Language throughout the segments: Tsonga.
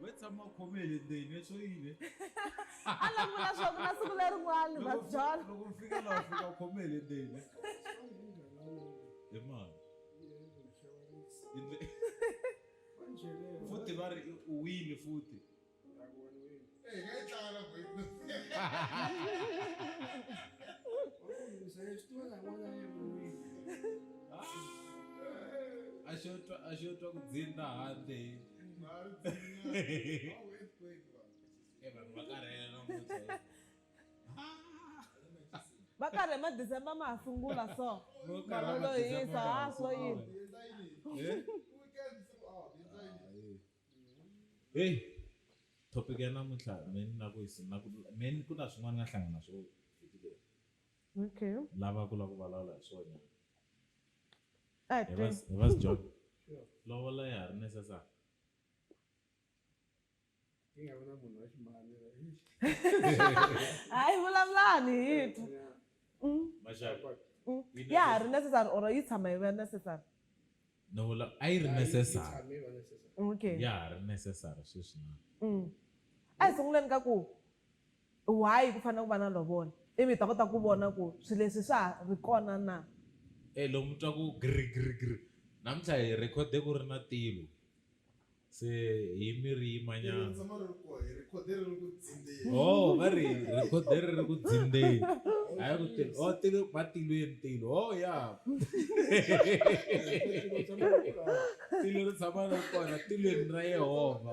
we tshama khome hi le ndzeni leswo yile a langula swaku na siku lerin'wani va byala loko mi fika laha fika khome hi le ndzeni hi mani futhi va ri u wile futhi a xo twa ku dzinda handle va karhi ma december ma ha sungula so malolo hisa ha swo yini heyi topic ya namuntlha meni na ku hisi na ku meni ku na swin'wana nga hlangana swo Okay. lava ku la ku vulavula hi swona A hi hi va twe. hi va sijok lovola ya ha ri necessary Yi nga vi na munhu wa ximani. Hayi vulavulani hi twe. Mm. maxaka Mm. Yi Ya ha ri necessary or yi tshama yi va necessary. no vula a yi ri necessary Okay. ya ha ri necessary sweswi na Mm. A hi sunguleni ka ku Why ku fanele ku va na lovola? Ivi hi ta kota ku vona ku swilo leswi swa ha ri kona na. E loko mi twa ku gri gri gri namuntlha hi rhekhode ku ri na tilo se hi mi ri yimanyana. Ohh va ri rhekhode ri ri ku dzindzeni hayi ku tilo ohh tilo va tilweni tilo ohh ya tilo ri tshama ri ri kona tilweni ra Yehovha.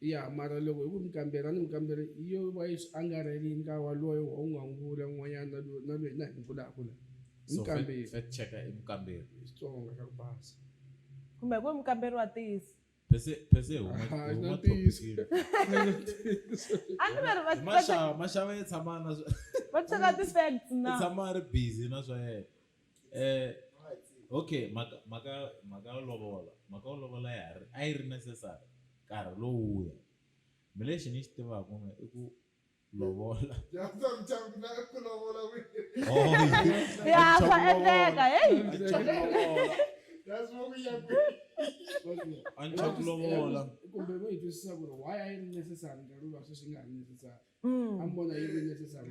Ya, mara loko hi ku mi kambela, ni mi kambela, yo va yi swi angarhele yi nga wa loyi wa un'wangula un'wanyana na loyi, na loyi na hi vulaka la. Hi mi kambela. So, fact checker i mukamberi. Hi Xitsonga xa ku basa. Kumbe ku i mukamberi wa ntiyiso. Phese, phese hi huma, hi huma thopikini. A ni va ri va. Mashava, mashava ya tshama na swa. Va cheka ti facts na. I tshama a ri busy na swa yena. Eh, okay mhaka mhaka mhaka yo lovola mhaka yo lovola ya ha ri a yi ri necessary nkarhi lowuya mi lexi ni xi tivaka n'we i ku lovola dyandza muchambi na ku lovola ya swa endleka heyi that's what we are doing anchaku lovola kumbe vo yi twisisa ku ri why a yi ri necessary nkarhi luwa sweswi yi nga ri necessary mm. a mi vona yi ri necessary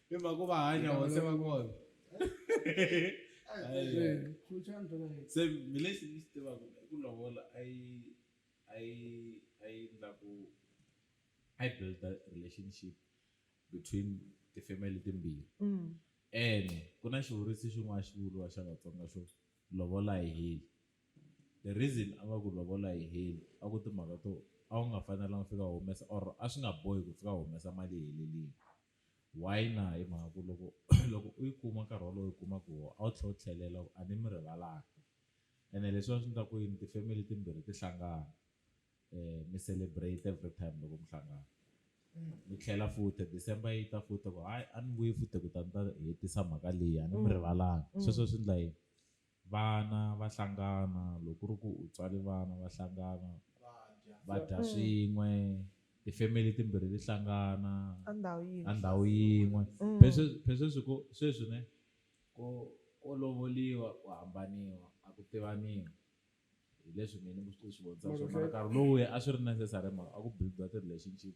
i mhaka va hanya wa se va kona se mi lexi ni xi tivaka i ku lovola a yi a yi a yi endla ku a yi build relationship between ti-family timbirhi mm. ene ku na xivuriso xin'wana xi vuriwa xa vatsonga xo lovola hi heli the reason a va ku lovola hi heli a ku timhaka to a wu nga fanelanga fika humesa or a swi nga bohi ku fika humesa mali helelini Why na? Hi mhaka ku loko loko u yi kuma nkarhi wolowo u yi kumaka hi wona a wu tlhela u tlhelela a ni mi rivalanga ene leswiwani swi endla ku yini ti-family timbirhi ti hlangana mi celebrate every time loko mi hlangana mi tlhela futhi December yi ta futhi ku hayi a ni vuyi futhi ku ta ni ta hetisa mhaka leyi a ni mi rivalanga sweswo swi endla yini. Vana va hlangana loko ku ri ku u tswale vana va hlangana va dya swin'we ti-family timbirhi ti hlangana ka ndhawu yin'we ka ndhawu yin'we phela sweswi ku sweswi ne ko ko lovoliwa ku hambaniwa a ku tivaniwi hi leswi mina ni swi vonisa swona mara nkarhi lowuya a swi ri necessary hi mhaka a ku build-iwa ti-relationship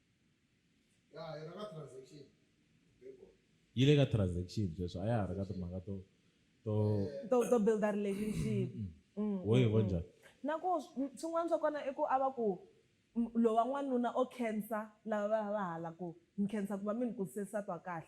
yi le ka transaction sweswi a ya ha ri ka timhaka to to to to build a relationship wo yi vona njhani na ku swin'wana swa kona i ku a va ku lowa n'wanuna o khensa lava va va hala ku ni khensa ku va mi ni kurise nsati wa kahle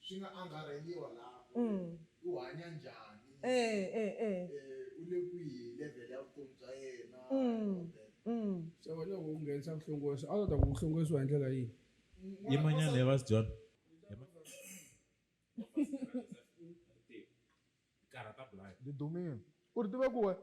Swi nga angarheliwa laha ku ri u hanya njhani, u le kwihi hi level ya vutomi bya yena and all that. Se wena loko u nghenisa vuhlongorisi a wu ta ta ku ku hlongorisiwa hi ndlela yihi? Yimanyana he vas John. Karhata Blaya. Didumile. U ri tiva ku wena.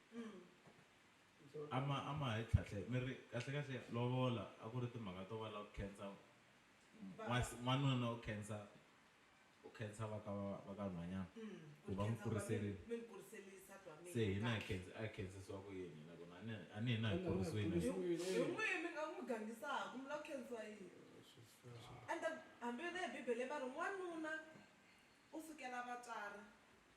a ma a ma ha yi tlhatlhela mi ri kahlekahle lovola a ku ri timhaka to va lava ku khensa n'was- n'wanuna u khensa u khensa va ka va- va ka nhwanyana ku va n'wi kuriserile se hina hi khensi- a hi khensisiwa ku yini hina ku na a ni- a ni hina hi Ina, kurisiwile na kurisiwile. hina. Hi- hi n'wihi mi nga n'wi gangisaka mi lava khensiwa yini ende hambi na hi bibele va ri n'wanuna u sukela vatswari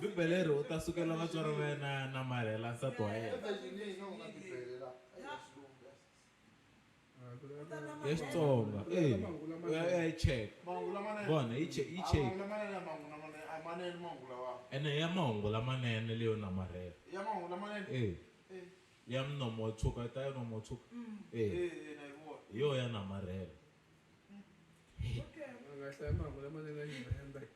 bibele ri u ta sukela vatswari va yena ya namarhela nsati wa yena ya xitsonga e u ya ya yi check vona yi check yi check ene ya mahungu lamanene leyo namarhela e ya mnomo wa tshuka yi ta ya nomo wa tshuka e hi yo ya namarhela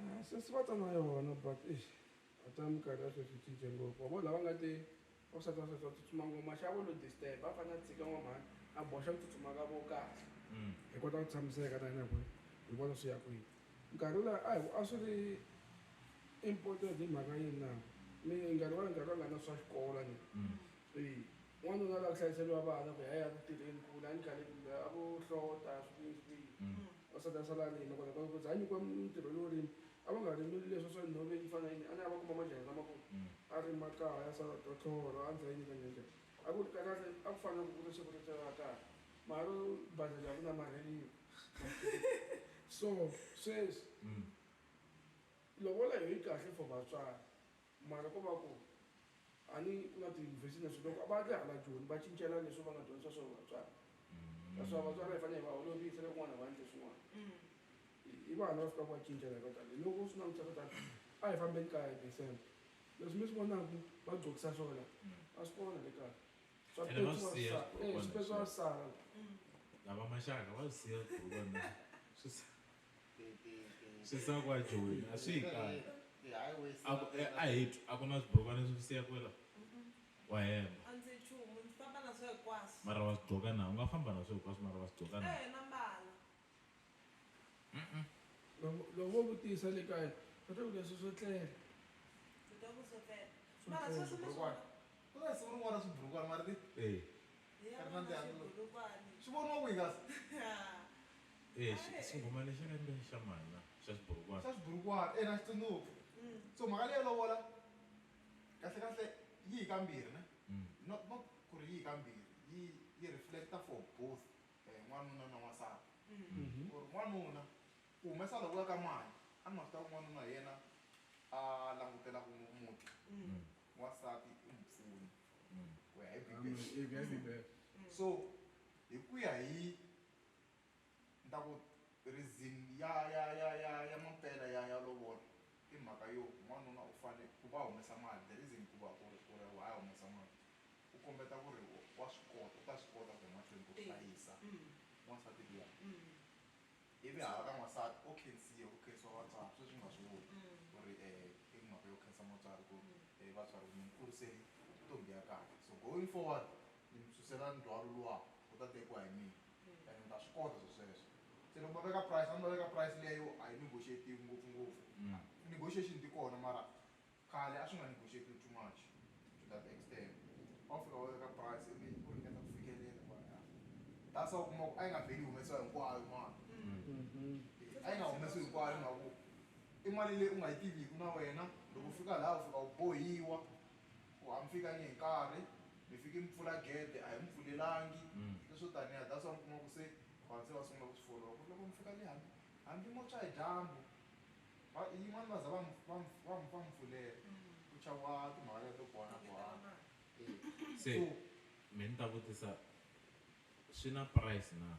Ah, sesi va ta na yona but eish a ta minkarhi ya sweswi cince ngopfu wa vo lava nga te va swa swa swa tsutsuma ngopfu maxavo lo disturb va fanele a tshika n'wamhani a boxa ku tsutsuma ka vo kahle mm. hi kota ku tshamiseka na hina ku hi vona swi ya kwihi nkarhi laha a hi a swi ri important hi mhaka yini na mi nga rivali nkarhi va nga na swa xikolo ni mm. eyi n'wanuna la ku hlayiseliwa vana ku ya ya ku tirheni kula ni khale a vo hlota swihi swihi mm. Wansati a sala a rima, kona hikwalaho ko za a nyikiwa ntirho lowo rima, a va nga rimeli leswa swa nhove yi fana yini, a ni a va kuma majahha lamakulu a rima kaya, a sala ta tlhorha, a ndzayi ni ka njanja. A ku ri karhata, a ku fana na ku ku ri siku ro tirha kahle, mara ro badlhela hi ku namarheriwa. So, sweswi lovola yoh yi kahle for vatswari, Mara ko va ku a ni ku na tiyunivhesiti na swilo loko va ri hala joni va cincela leswi va nga dyondzisa swona vatswari naswona vatswari va hi fanele hi va holovisa loko n'wana va endle swin'wana i vana va fikaka va cincela hi va tani hi loko u swi langutisa swa tani a hi fambeni kaya hi December leswi mi swi vonaka va gcokisa swona a swi kona le kaya swa Ene va swi siya petsiwa swi kona, swi petsiwa sala lava maxaka va swi siya ku va na swi sa- swi sa kwa joni a swi hi kali a hi twi a ku na swibrokwana leswi siya kwela wa hemba a ndzi chumu ndzi famba na swo hinkwaswo mara wa swi gqoka na u nga famba na swo hinkwaswo mara wa swi gqoka na ehe na mbala loko wo vutisa le kaya va ta ku leswi swo tlela ndzi ta ku swo tlela mara sweswi mi swi ku na siku rin'wana swibrukwana mara ti e ri na ndzi swivoniwa kwihi kasi Eh, xi- xinghoma lexi lembe xa mani na xa xiburukwana xa xiburukwana ena xi tsundzuka so mhaka leyo lovola kahle kahle yi yi kambirhi ne Mm. not not ku ri yi yi kambirhi yi yi reflecta for both eh, n'wanuna na n'wansati ku ri n'wanuna ku humesa loko ya ka mali a ni ma swi tiva ku n'wanuna hi yena a langutelaka mu- muti Mm. n'wansati i mupfuni Mm. ku ya hi bibele Amen. so hi ku ya hi Ni ta ku reason ya ya ya ya ya mampela ya ya lovola i mhaka yo n'wanuna u fane ku va humesa mali the reason ku va ku ri ku ri why a humesa mali u kombeta ku ri wa swi kota u ta swi kota ku ya mahlweni ku hlayisa n'wansati luya ivi hala ka n'wansati o khensiwa ku khensiwa vatswari sweswi mi nga swi voni ku ri i mhaka yo khensa mutswari ku ri vatswari mi ni kurisele ntombi ya kahle so going forward. Ni mi susela ndzhwalo luwaku wu ta tekiwa hi mina and mi ta swi kota swo sweswo. Se loko va veka price a mi ta veka price leyo a yi negotiate-iwi ngopfungopfu. Ti-negotiation ti kona mara khale a swi nga negotiate-iwi too much to that extent. A wu fika u veka price ivi u ringeta ku fikelela ku ya that's why u kuma ku a yi nga vheli yi humesiwa hinkwayo mali. A yi nga humesiwi hinkwayo hi mhaka ku i mali leyi u nga yi tiviku na wena loko u fika laya u fika u bohiwa Ku ha mi fika ni hi nkarhi, mi fiki mi pfula gede, a hi mi pfulelangi, leswo taniya. That's why mi kuma ku se vanhu se va sungula ku swi follow-a ku ri loko mi fika le hambi hambi mo tshwa hi dyambu, va yin'wana va za va mi va mi va mi va mi pfulela ku chaviwa timhaka letiya to bohana bohana. Se mehe ni ta vutisa swi na price na?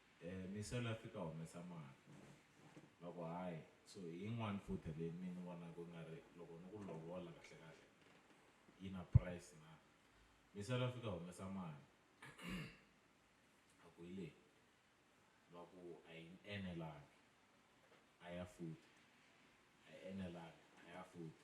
Eh mi sala fika humesa mahlo loko hayi so hi yin'wani futhi leyi mi ni vona ku nga ri loko ni ku lovola kahle kahle yi na price na mi sala fika humesa mali a ku hi leyi va ku a yi enelangi a ya futhi a yi enelangi a ya futhi.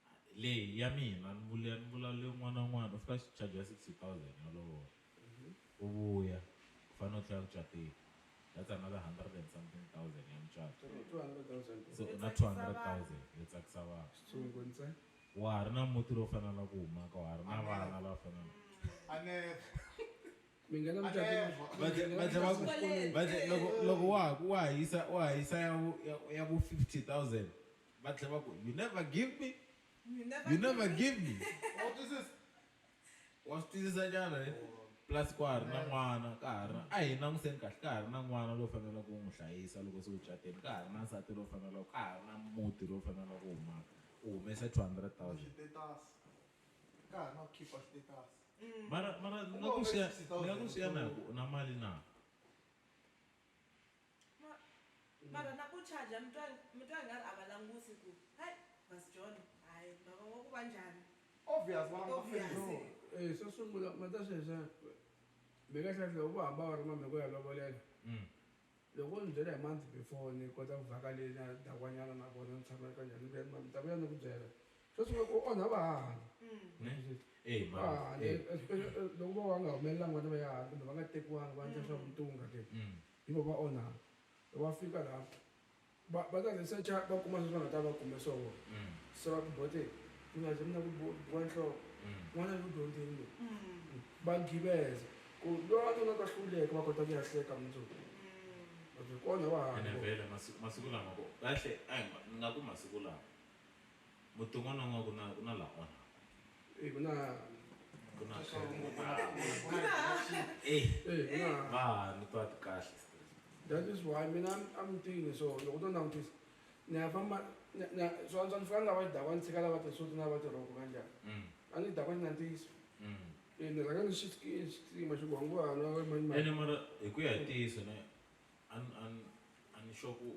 A hi leyi ya mina ni vule ni vula le un'wana na un'wana u fika xi charger sixty thousand ya lovola u vuya u fanele u tlhela ku cateni that's another hundred and something thousand ya mucato Two two hundred thousand so u na two hundred thousand yo tsakisa vanhu xitsongo ntse wa ha ri na muti lowu fanelaka ku huma ka wa ha ri na vana lava fanelaka a never mi nghena a mucatweni never va tlhe- va tlhe va ku Xikweleti. va tlhe- loko loko wa ha ku wa ha yisa wa ha yisa ya vu ya- ya vu fifty thousand va tlhela va ku you never give me You never, you never give me wa swi twisisa wa swi twisisa njhani eh? plus kwa ha ri na n'wana ka ha ri na a hi languseni kahle ka ha ri na n'wana lowu faneleke ku n'wi hlayisa loko se u cateni ka ha ri na nsati lowu faneleke ka ha ri na muti lowu faneleke ku humaka u humese two hundred thousand xitetasi ka ha ri na ku khipha xitetasi mara mara ni nga ku swi ya ni nga ku swi ya na hi ku u na mali na Ma, mara na ku charger mi twa mi twa nga ri a va langusi ku hai Bus John hayi mara wa ku va njhani. Obvious vona va ta No, feriwa. e xo sungula ma ta sweswiya mi nga hleketi loko vo hamba va ri mhani ku ya lovolela loko vo ni byela hi month before ni kota ku vhaka le na dakwanyana na vona ni tshama ka njhani ni vuya ni ma mi ta vuya ni ku byela xo sungula ku onha vahahani mm. vahahani eh, eh, eh, loko vo va nga humelelanga vana va yahani kumbe va nga tekiwangi va endla swa mm. vutunga ke mm. hi vo va onhaka loko va fika laha va va ta researcha va kuma sweswi va nga ta va kume swoho se va ku bote mi nga ze mi na ku wa nhloko n'wana yi ku dyondzini lowu va giveza ku lowa ni nga ka hluleka va kota ku ya hleka mundzuku va byi kona va hanyivele masiku lama kahle a nga ku masiku lama Mothong ona ngoa kuna kuna la ona. Eh kuna kuna Eh kuna ba ni twa kahle. That is why mina I'm thinking so loko to langutisa ni ya famba ni ya swa antswa ni fika ni lava xidakwa ni tshika lava ti-suit na lava tirhoko ka njhani a ni dakwa xi na ntiyiso eh ni rhanga ni xi xi tima xi ku wa ngo hala we mani mani ene mara hi ku ya hi ntiyiso ne a ni a ni a ni sure ku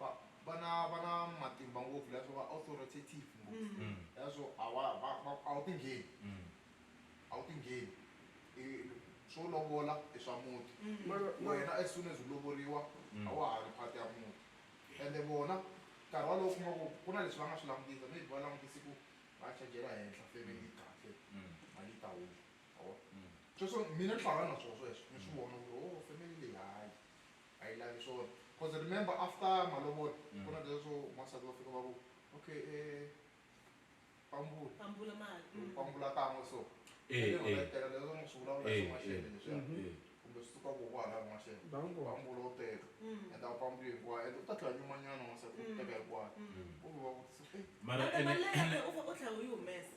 va va na va na matimba ngopfu leswo va authoritative ngopfu Mm. Mm. leswo a wa va va a wu tingheni Mm. a wu tingheni I swo lovola i swa muti Mm. Mara- mara- wena as soon as u lovoriwa Mm. a wa ha ri part ya muti ende vona nkarhi walowo kuma ku ku na leswi va nga swi langutisa maybe va langutise ku va chajela henhla family yi kahle Mm. mali yi ta huma a wa Mm. sweswo mina ni hlangana na swona sweswo ni swi vona ku ri o family leyi hayi a yi lavi swona cause remember after malovolo ku na leswo n'wansati va fika va ku okay pambula pambula mali pambula kan'we so eh eh teka leswo n'wi swi vulavula hi n'waxele leswiya kumbe swi suka koho hala n'waxele pambula u teka and a wu pambuli hinkwayo and u ta tlhela nyumanyana n'wansati u teka hinkwayo kumbe va vutisa mara ene ene u tlhela u yi humesa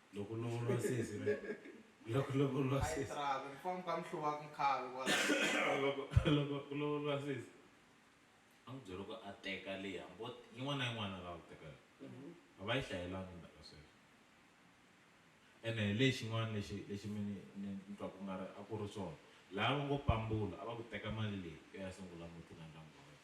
loko lovoriwa sesi right loko lovoriwa a yi sesi tirhaka ku famba ka mihluva ku mukhavi kwala loko loko ku lovoriwa sesi a n'wi byela ku a teka leyi hambo yin'wana na yin'wana a lava ku teka yona a va yi hlayelangi mhaka sweswo ene hi lexi xin'wana lexi lexi mi ni ni ni twa ku nga ri a ku ri swona laha va ngo pambula a va ku teka mali leyi u ya sungula muti na ndyangu wa wena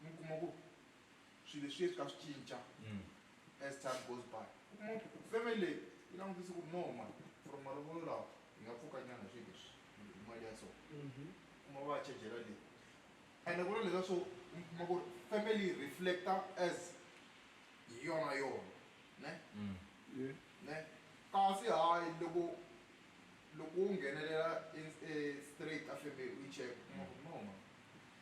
mi kuma ku swilo leswi swi ka swi cinca mm. as time goes by u kuma ku family leyi yi langutise ku no mani from malovolo lawa hi nga pfuka nyana swi leswi hi mali ya so mhm. kuma va chejela leyi ende ku na leswa swo mi kuma ku family reflecta as hi yona yona ne mm. ne kasi hayi loko loko u nghenelela e, e straight a family u yi cheka kuma ku no mani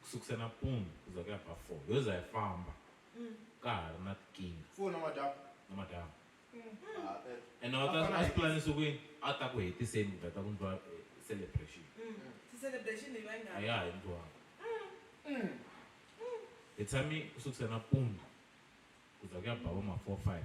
Ku sukisa nampundzu ku za ku ya ba four, yo za yi famba ka ha ri na tikinga. Four namadyambu? Namadyambu. Ene a wu ta a swi pulanisiwe ku yini? A ta ku hetiseni ku ta ta ku ndliwa celebration. A ya ha endliwanga. Hi tshame ku sukisa nampundzu ku za ku ya ba vo ma four five.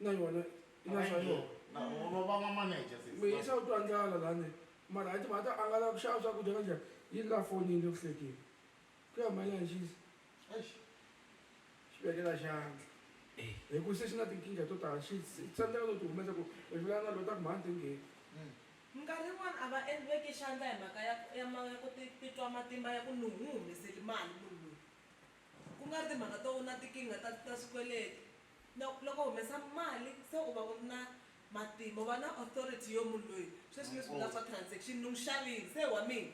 na yona yi na swa yona mi yisa u twa ndlala lani mara a timhaka ta a nga lava ku xava swakudya ka njhani yi ri la fonini le ku hlekeni ku ya mali ya xisa xi vekela xandla hi ku se xi na tinkingha to tala xi tsandzeka no ti humesa ku hi vulana na lota ku mhani ti ngheni minkarhi yin'wana a va veki xandla hi mhaka ya ya ku titwa matimba ya ku ni n'wi humeseli mali munhu loyi. Ku nga ri timhaka to u na tikinga ta ta swikweleti. No, loko u humesa mali se u va u ri na matimba, u va na authority yo munhu loyi sweswi leswi mi nga swa transaction ni n'wi xavile se i wa mina.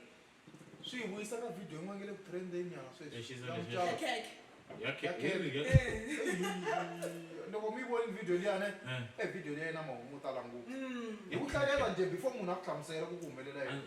Swi hi vuyisa ka video yin'wana yi nga le ku trend-eni nyana sweswi ya mucato. Ya khekhe. Ya khekhe. Loko mi yi vonile video liya ne, e video liya yi na mahungu mo tala ngopfu. Hi ku hlalela njhe before munhu a ku hlamusela ku ku humelela yini.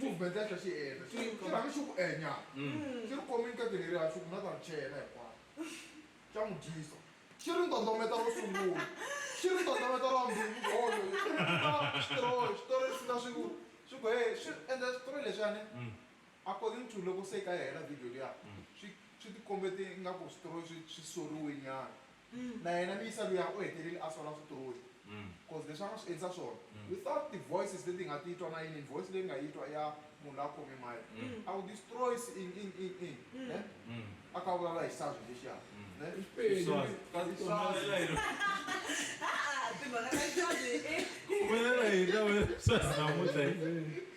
movement ya xi endla xi xi rhanga xi ku enya xi ri komini ka tirheri ya xi ku na ta ri chela hinkwayo xa n'wi dyisa xi ri ndondometa ro sungula xi ri ndondometa ra vumbirhi ku olo xi ri nyika xitori xitori lexi nga swi ku swi ku heyi swi endla xitori lexiyani according to loko se ka yi hela video liya swi swi tikombe ti ingaku xitori swi swi soriwe nyana mm. na yena miyisa luya u hetelele a sola switori bcause mm. leswi a nga swi endlisa swona mm. without ti-voices leti nga titwa na yini voice leyi nga yitwa ya munhu la khome mayi a wu destroys in in in in ne a ka vulavula hi sazi lexiya ne timhaka ta sazi kumelela hina sazi namuntlha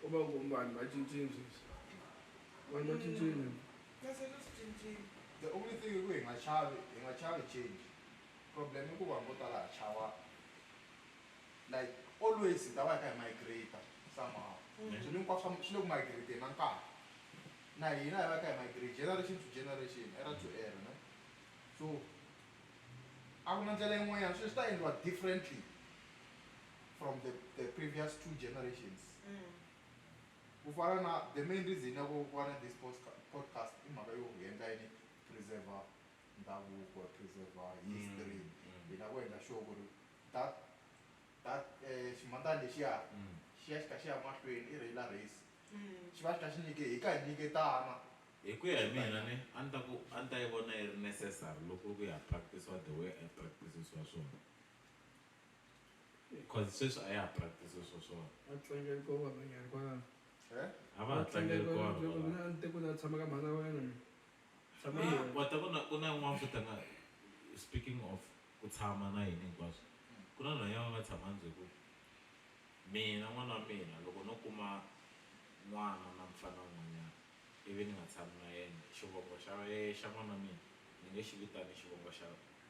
Ko va ku vanhu va cincile sweswi. Vanhu va cincile. Kasi leswi cincile. The only thing i ku hi nga chavi, hi nga chavi change. Problem i ku vanhu vo tala ha chava like always hi ta va hi kha hi migrate-a somehow. Swilo hinkwaswo swa swi le ku migrate-eni na nkarhi. Na hina hi va hi kha hi migrate generation to generation, era to era ne. So a ku na ndlela yin'wanyana swilo swi ta endliwa differently. from the, the previous two generations mm. kufana na the main reason yako kuva na this podcast i mhaka yo hi endla yini preserve ndhavuko preserve history mm, mm. hina ku endla sure ku ri that that eh, ximandani lexiya mm. xi ya xi kha xi ya mahlweni i reyila race xi va xi kha xi nyike hi ka hi nyiketana hi ku ya hi mina ni a ni ta ku a ni ta yi vona yi ri necessary loko ku ya practisiwa the way a practisiwa swona cause sweswi a ya ha practice swo swona a tlangeli ko vanhwanyani kwalano Eh? a va ha tlangeli ko vanhu valava. mina a ni te ku na tshama ka mhana wa wena mina tshama na Ah, yena. wa ta vona ku na yin'wana futa nga speaking of ku tshama na yini hinkwaswo ku na nhwanya va nga tshama ndzi ku mina n'wana wa mina loko no kuma n'wana na mfana wun'wanyana ivi ni nga tshami na yena xivongo xa ye- xa n'wana wa mina ni nge xi vitani xivongo xa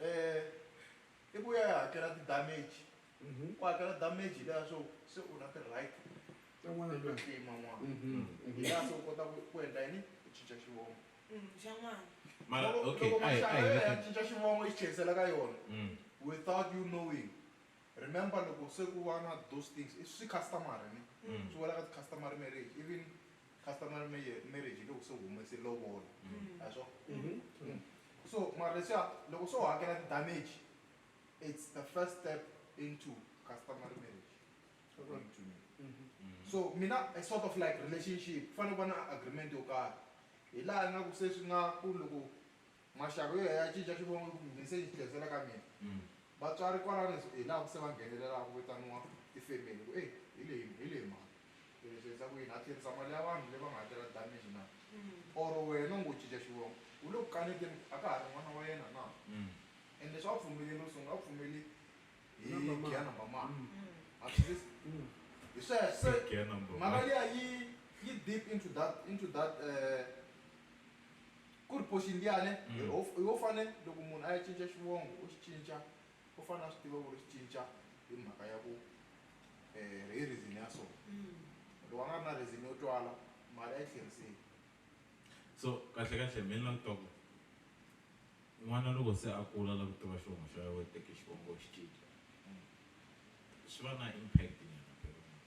um i ku ya ya hakela ti-damage ku hakela damage hi leya swo se u na ti-right Tin'wana to tin'wana. tlima n'wana Mhm, mhm. hi laha se u kota ku ku endla yini u cinca xivongo Mm, xa n'wana mara Loko- okay loko ayi maxaka ayi ya ya cinca xivongo yi tlherisela ka yona Mm. without you knowing remember loko se ku va na those things i swi customary ni Mm. swi wela ka ti-customary marriage even Customary marriage marriage hi loko se u humese lovola a hi swona Mhm. so mara leswiya loko se u hakela ti damage it's the first step into customary marriage according to me Mhm. so mina a sort of like relationship ku fanele ku va na agreement yo karhi hi laha ingaku se swi nga ku loko Maxaka yo ya cinca xivongo ku mundzuku se yi tlherisela ka mina. Vatswari kwalano hi laha ku se va nghenelelaka ku vitaniwa tifemeli ku, Ey, hi leyi, hi leyi mhani. Se leswi endla ku yini? Ha tlherisa mali ya vanhu leyi va nga hakela damage na? Or wena u ngo cinca xivongo, u le ku kaneteni ku a ka ha ri n'wana wa yena na? And leswi a wu pfumeleli ro sungula a wu pfumeleli hi gear number mani? Ma swi twisisa? Hi sweswo. Se mhaka liya yi, yi deep into that, into that, Ku ri Portia Ndiyane, Hi wo fane loko munhu a ya cinca xivongo u xi cinca u fane a swi tiva ku ri xi cinca hi mhaka ya ku hi reason ya so. Loko a nga ri na reason yo twala mali a yi tlheriseli. So kahle kahle me ni la ku twa ku n'wana loko se a kula a la ku tiva xivongo xa yena u teke xivongo u xi cinca swi va na impact nyana phela.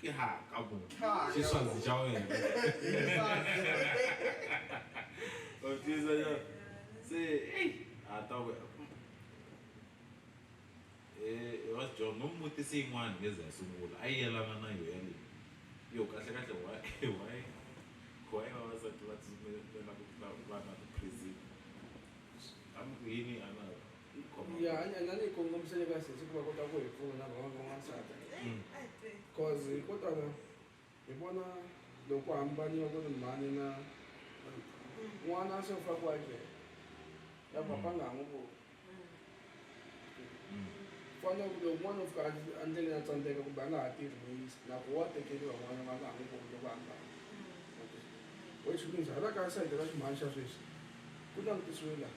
Ke ha ka bo. Ke swazi ja wena. O tiza ja. Se ei a ta we. Eh, e was John no muti se in'wana ngeze ya sungula. A yelana na yo yale. Yo kahle kahle wa e wa e. Wa e wa sa twa tsume na ku ta va na prison. Am ku yini ana. ya hanya na ni kongomisele ka sesi ku va kota ku hi pfuna van'wana van'wansati cause ko tala hi vona loko hambaniwa ku ri mhani na n'wana se u fa ku akela ya papa nga ha n'wi voni fana ku loko n'wana u fika a ndleleni a tsandzeka kumbe a nga ha tirhi muyisi loko wa tekeriwa n'wana va nga ha n'wi voni loko hambana which means hala ka sayiti ra ximhani xa sweswi ku langutisiwe laha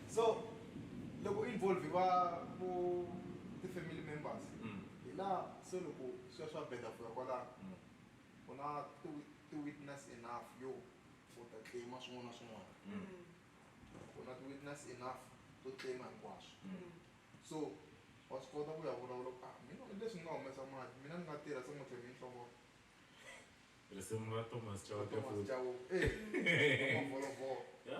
So loko u involve-iwa vo ti-family members hi laha se loko swi ya swi ya beda fika kwalano u na ti-witness enough yo u ta claim-a swin'wana na swin'wana u na ti-witness enough to claim-a hinkwaswo so wa swi kota ku ya vulavula ku a mina hi leswi ni nga humesa mali mina ni nga tirha se n'hweti leyi nhloko risimu ra Thomas Chauke Thomas futhi Chauke eh Mavolovolo ya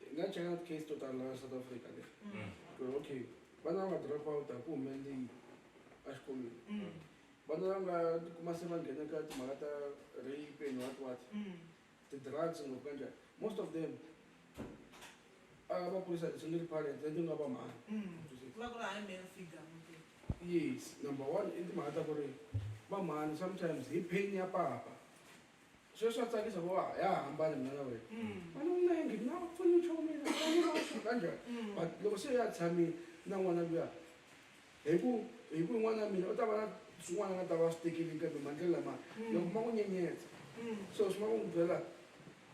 hi nga cheka case to tala la south africa le mm. ku ri okay vana va nga drop out a ku humelele yini exikolweni mm. vana va nga tikuma se va nghena ka timhaka ta rape and what what mm. ti-drugs ngopfu kanjani most of them a va kurisa ti-single parents leti nga va mhani yes number one i timhaka ta ku ri va mhani sometimes hi pain ya papa sweswi wa tsakisa ku wa ya hambana mina na wena vana u na yingi na pfuni nchumu mina vanilausuka njhani but loko se ya tshamile na n'wana luya hi ku hi ku n'wana mina u ta va na swin'wana nga ta va swi tekelini kambe mandlela lama loko ma ku nyenyetsa so swi ma ku n'wi byela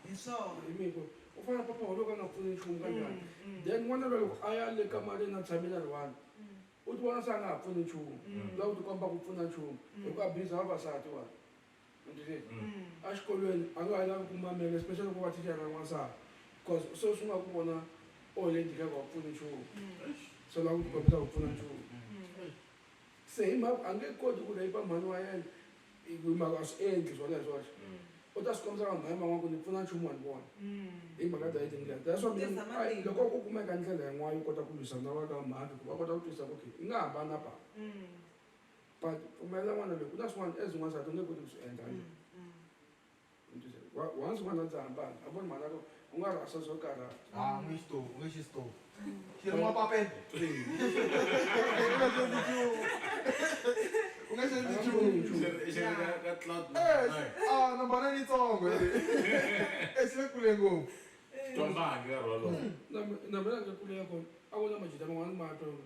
hi swona hi miko u fana papa wa loko a nga pfuni nchumu ka njhani then n'wana luya loko a ya le kamareni a tshamile a ri one u ti vona se a nga ha pfuni nchumu la u ti komba ku pfuna nchumu hikuva biza vavasati wani a xikolweni a nga ha lavi ku mamela especially loko va thichara ra n'wansati because se swi nga ku vona o le njhika ku a pfuni nchumu so lava ku tikombisa ku pfuna nchumu se hi mhaka a nge koti ku rape mhani wa yena hi mhaka a swi endli swona hi swoxe u ta swi kombisa vanhu va yena van'wana ku ni pfuna nchumu wa ni vona hi mhaka dya hi tindlela that's why mina loko ku kumeka ndlela yin'wana yo kota ku lwisana na va ka mhani ku va kota ku twisisa ku okay i nga hambana papa but pfumelela n'wana loyi ku na swin'wana as n'wansati u nge koti ku swi endla mm, mm. once n'wana ndzi hambana a voni mhaka ku u nga rhasa swo karha a n'wi xito u nge xi xito xi ri mapapete u nge xi endli nchumu mbana ni tsongo e xi le kule ngopfu tombangi ka rholo na mina ndzi kulela kona a ku na majita man'wana ma tona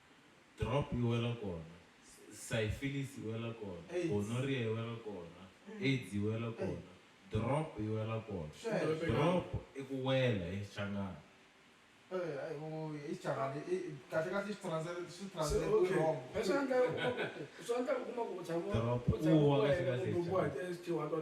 Drop yi wela kona, Syphilis yi wela kona, Gonorrhea yi wela kona, Aids yi wela kona, Drop yi wela kona. Drop i ku wela hi Xichangani. Drop, u wa kahle kahle hi Xichangani.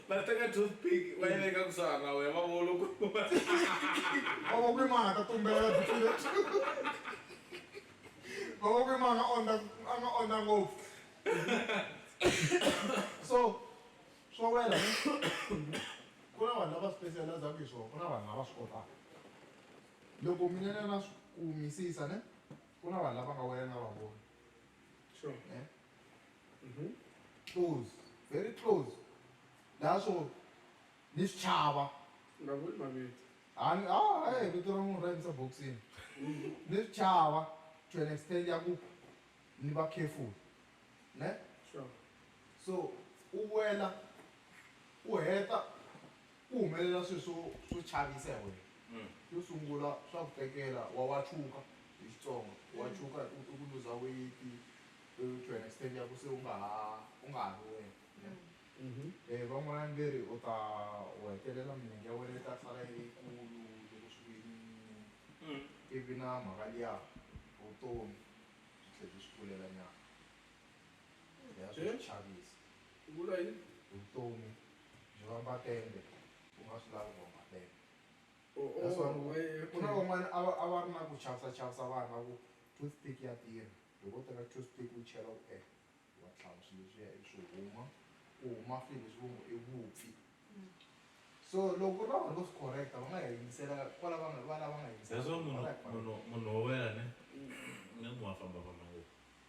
Va teka toothpick va yi veka kusuhana na wena va vo loko Vavakwemana ta tumbela byi file two. Vavakwemana a ondla a nga ondla ngopfu. So swo wela ne ku na vanhu lava specializaku hi swona ku na vanhu lava swi kotaka loko mina ne na swi kumisisa ne ku na vanhu lava nga wela ni nga va voni ne. Mhm. close very close laha swo ni swi chava nga vuli mavito Ani, ah, eh, vito ra munhu ra yimisa boxini ni swi chava to an extent ya ku ni va careful ne sure so u wela u heta Ku humelela swilo swo swo chavisa hi wena. Xo sungula swa ku tekela wa wa tshuka hi Xitsonga wa tshuka i ku luza weyiti to an extent ya ku se u nga ha u nga ha ri wena van'wanyana ve ri u ta u hetelela milenge ya wena yi ta sala yi ri yikulu loko swi ku yimiyimi ivi na mhaka liya vutomi byi tlhe byi swi pfulelanyana ya swa ku chavisa. Ku vuriwa hi vutomi byi vamba tende u nga swi lavi ku vamba tende that's why ku ku na van'wana a va a va ri na ku chavisa chavisa vanhu va ku tooth pick ya tirha loko u teka tooth pick u chela u e wa tlhava swilo leswiya ivi swi huma ku huma swilo leswi vo nge i vupfi so loko ku ri na vanhu vo swi correct-a va nga hi yingisela kwala va nga va lava nga hi that's why munhu munhu munhu wo wena ne ni n'wi wa fambafamba ngopfu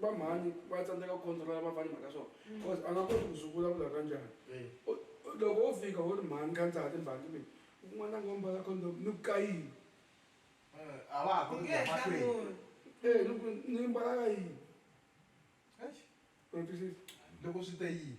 va mhani va tsandzeka ku controla va fana mhaka swona mm. because a nga koti ku swi vulavula ka njhani loko wo fika wo ri mhani ka ndzati mhani kumbe un'wana a nga mbala condom ni ku kayini eh, a va ha koti kuaee eh, ni ku ni mbala ka yini loko swi te yini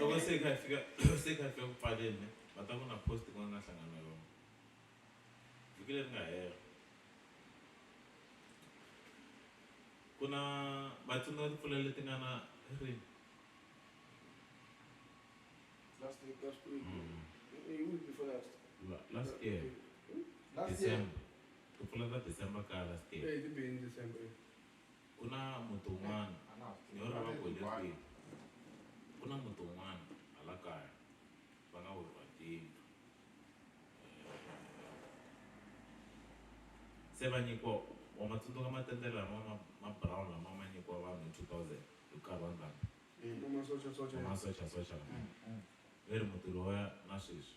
loko se kha fika se kha fika ku pfaleni ne va ta ku na post ku nga hlangana yona vhiki leri nga hela ku na va tsundzuka timpfula leti nga na ri last week last week mm. week before last last year last year timpfula ta december ka last year eh ti bini december ku na muti wun'wana ni yo lava ku hi le kwihi ku na muti wun'wana hala kaya va nga weriwa hi tiyindlu se va nyikiwa wa ma tsundzuka matende lama ma ma brown lama ma nyikiwa vanhu hi two thousand hi nkarhi wa ndhambi Ku masochasocha. va masochasocha lama ve ri muti lowuya na sweswi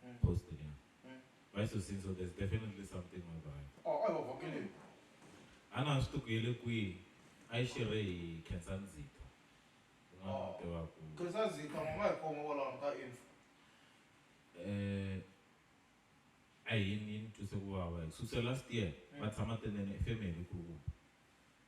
Mm. Post it, yeah. Mm. Vai so sim, so there's definitely something over there. Oh, oh, oh, okay. Ana swi tukile kwihi? A yi xirhe hi Khensa Ndzita. Un'wana oh. tiva ku. Khensa Ndzita u nga hi khoma kwalaho ka info. Eh a hi ni twise ku vava. Susa last year va mm. tshama tenene efemeni ku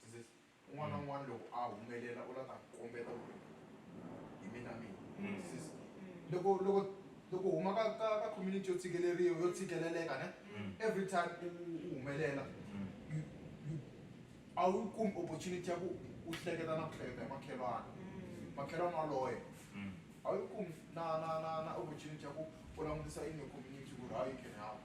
Twisisa, un'wana na un'wana loko a humelela u la ta kombeta ku ri hi mina mina. Twisisa, loko loko loko u huma ka ka ka community yo tshikeleriwa yo tshikeleleka ne, every time u u humelela you you a wu yi kumi opportunity ya ku u hleketa na ku hleketa hi makhelwani, makhelwani waloye a wu yi kumi na na na na opportunity ya ku u langutisa yini community ku ri how you can help.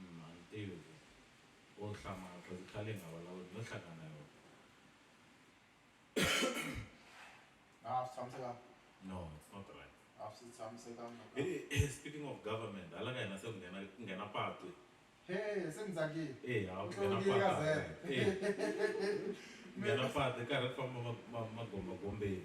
Munhu a ni tivi ku wo hlamala cause i khale hi nga vulavuli no hlangana na yona. A swi tshamisekanga? No, it's not right. A swi tshamisekanga. Heyi speaking of government hala ka hina se ku nghena ku nghena patu. Hee se ni tsakile. Eya ku nghena patu hala ka hina. Ku nghena patu hi karhi hi famba ma ma magombagombeni.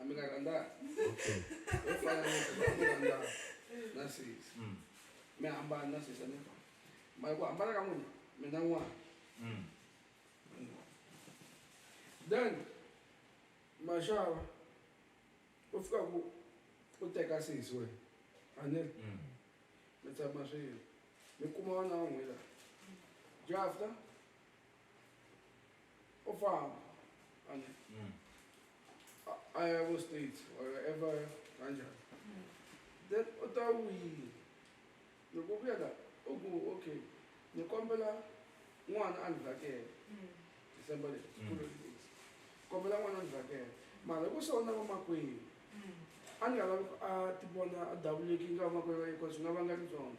Amina Randa. Narcisse. Mm. Me amba Narcisse ne. Mai ko amba ka muni. Me na wa. Mm. Then mashava u fika ku u teka sisi wena a ni ri Mm. mi tshama swilo mi kuma wana wa n'wina jafta Ó fáwọn àná. Iowa State or ever Niger. Hmm. Then Ota Wuyi, the Gobia that Ogo, okay, the Kombela one and Vake, hmm. December, hmm. Kombela one and Vake. Malago so na mama kwe, a ni nga lavi ku a ti vona a davuleki nga va makwerhu wa yena bcause swi nga vanga tibyona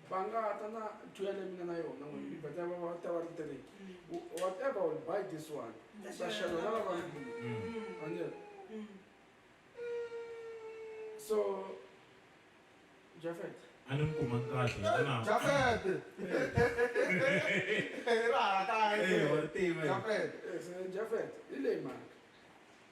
va nga ta na two ya leyi mi nga na yona n'wini mi beta va va ta va ri three whatever will buy this one ta xela na lava anile so jafet a ni mi kuma kahle na jafet ra ha ta tiva jafet hi leyi mhaka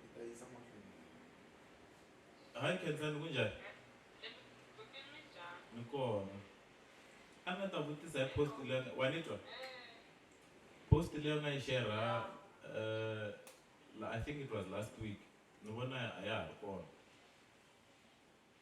Hi ta yisa mahlweni. Hi Khensani kunjhani? Ni kona. A nga ta vutisa hi post leyi wa ni twa? Post leyi nga yi share I think it was last week ni vona a ya ha ri kona.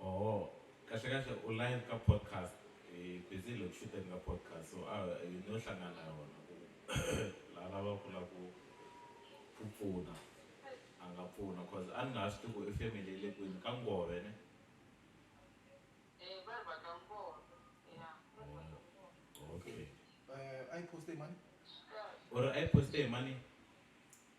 Oho kahle kahle u live ka podcast hi busy loku shuteni ka podcast so a hi no hlangana na yona ku la lava ku la ku ku pfuna a nga pfuna cause a ni nga ha swi tivi ku i family yi le kwini ka ngove ne okay u ri a yi poste hi mani.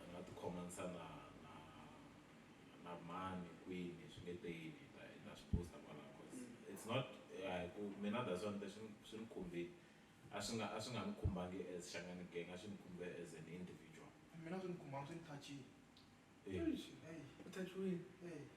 Hi nga ti khomanisa na na na mani kwini swi nge te yini hi ta hi ta swi post-a kwalaho coz it's not a hi ku mina that's why ni te swi swi ni khumbile a swi nga a swi nga ni khumbangi as Shangani Gang a swi ni khumbe as an individual. Mina a swi ni khumbanga swi ni touch-ini eish heyi. U touch-iwini? Eya.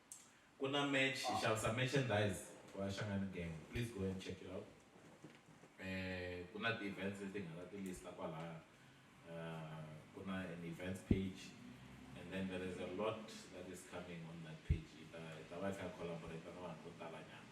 Kuna match hi xavisa merchandise wa Shangani Gang please go and check it out eh kuna ti events leti hi nga ta ti lista kwalaya uh, kuna an events page and then there is a lot that is coming on that page ita ita va kha collaborate na vanhu vo tala nyana